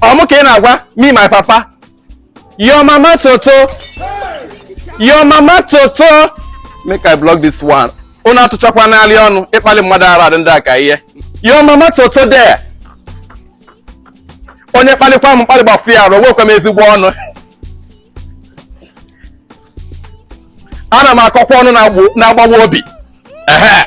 ọ mụ ka ị na-agwa me my papa your mama toto your mama toto make i block this one unu atụchakwa n'alị ọnụ ịkpali mmadụ ara adị ndị a ka ihe your mama toto there onye kpalikwa m mkpali gbafu ya arụ nwekwa m ezigbo ọnụ ana m akọkwa ọnụ na-agbawa obi ehe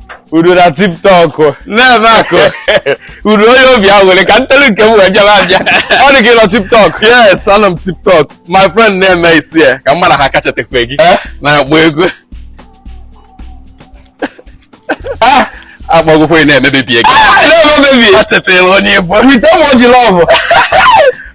udo na tiktok na-eme akụ udo onye obi aṅụrị ka m telu nke m wee jebe abịa ọ dị gị nọ tiktok yes anọ m tiktok my friend na-eme isi ya ka mma na ha kachatekwe gị eh? na-agba ego ah! akpọgokwe na-emebebie gị ah! na-emebebie achetara onye ị bụ with emoji love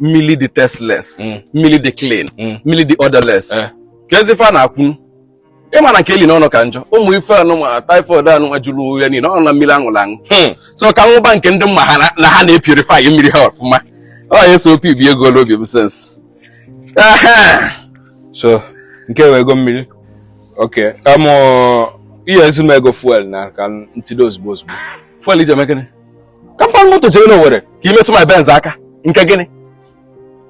mmiri dị tasteless mm. mmiri dị clean mm. mmiri dị odorless eh. ka ezi ife a na-akwunu ị ma na nke eli n'ọnụ ka njọ ụmụ ife anụnwa typhoid anụnwa jụrụ ụwa niile ọ na mmiri a ṅụrụ aṅụ hmm. so ka m ṅụba nke ndị m ma ha na ha na-epurify mmiri ha ọfụma ọ ya so opi bi ego n'obi m sens so nke wee ego mmiri oke amụ ihe ezu m ego fuel na ka ntide ozugbo ozugbo fuel i ji eme gịnị ka m baa moto jere n'Owere ka ị metụ my benz aka nke gịnị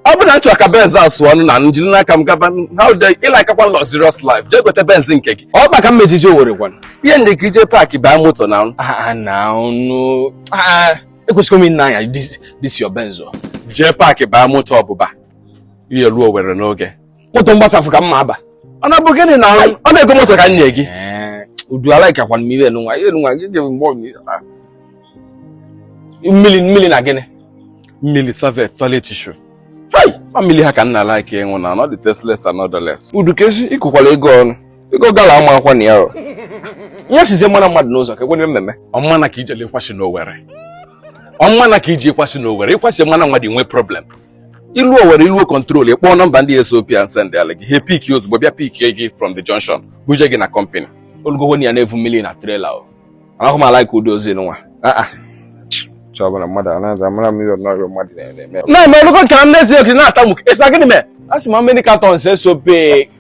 ọ bụ na m chọ ka benz a sụọ ọnụ na m jiri n'aka m gaba how dey ị likekwa luxurious life jee gote benz nke gị ọ kpa ka m ejiji Owere gwana ihe ndị ka i je park baa moto na ọnụ ah, ah, na ọnụ ah, ekwesịghị m ịna-anya this your benz jee park baa moto ọ buba ihe ruo Owere n'oge moto m gbatafụ ka mma aba ọ na-abụ gịnị na ọ na-ego moto ka m nye gị udu a likekwa m ihe nwa ihe nwa gị gebe mgbe ọbụla mmiri mmiri na gịnị mmiri serviette toilet tissue ma mmiri ha ka m na-alike ịṅụ na ọ dị tasteless and odorless udu ka esi ịkụkwala ego ọnụ ego gala ama akwa na ya o ihe sizie mara mmadụ n'ụzọ ka ekwenye mmemme ọmma na ka ijele ịkwasị n'owere ọmma na ka iji ịkwasị n'owere ịkwasị mmanụ nwa dị nwee problem i luo Owere i luo Control ị kpọọ nọmba ndị esop and send ala gị ha pick ozugbo bịa pick gị from the junction buje gị na company olugowo na ya na-evu mmiri na trailer ahụ m alike ụdị ozi nwa ah, ah. chọbara mmadụ anaghị amara m ihe ọ nọrọ mmadụ na-eme na-eme olugo nke m n'ezie oke na-ata nwoke esi na gịnị mee a sị ma mmiri cartons esop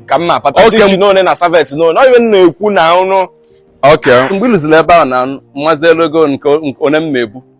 ka m na-apata tissue n'one na serviette n'one ọ ihe m na-ekwu na ọnụ oke mgbe i luzila ebe ahụ na m mazi elu ego nke onye m na-ebu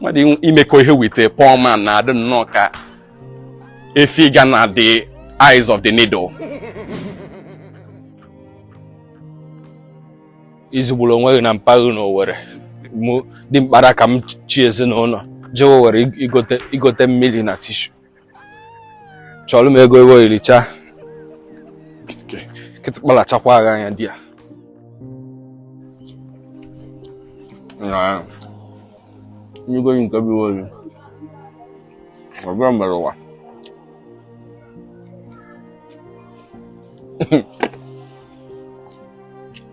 mmadụ imekọ ihe with poor man na-adị nnọọ ka efi ga na the eyes of the needle izigburu onwe gị na mpaghara n'Owerri mụ dị mkpara ka m chị ezinụlọ jewe Owerri igote mmiri na tissue chọrọ m ego ego iricha kịtịkpa lachakwa ghị anya di ya nyigo yi nke bụ olu ọbụla mere ụwa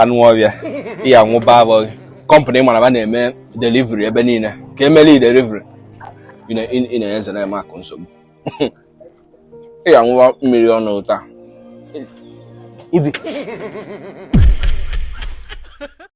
anụ ọbịa ya nwụba abụghị kọmpanị mara ba na-eme delivery ebe niile ka eme delivery ị na-enyeze na eme akụ nsogbu ị ya nwụwa mmiri ọnụ ụta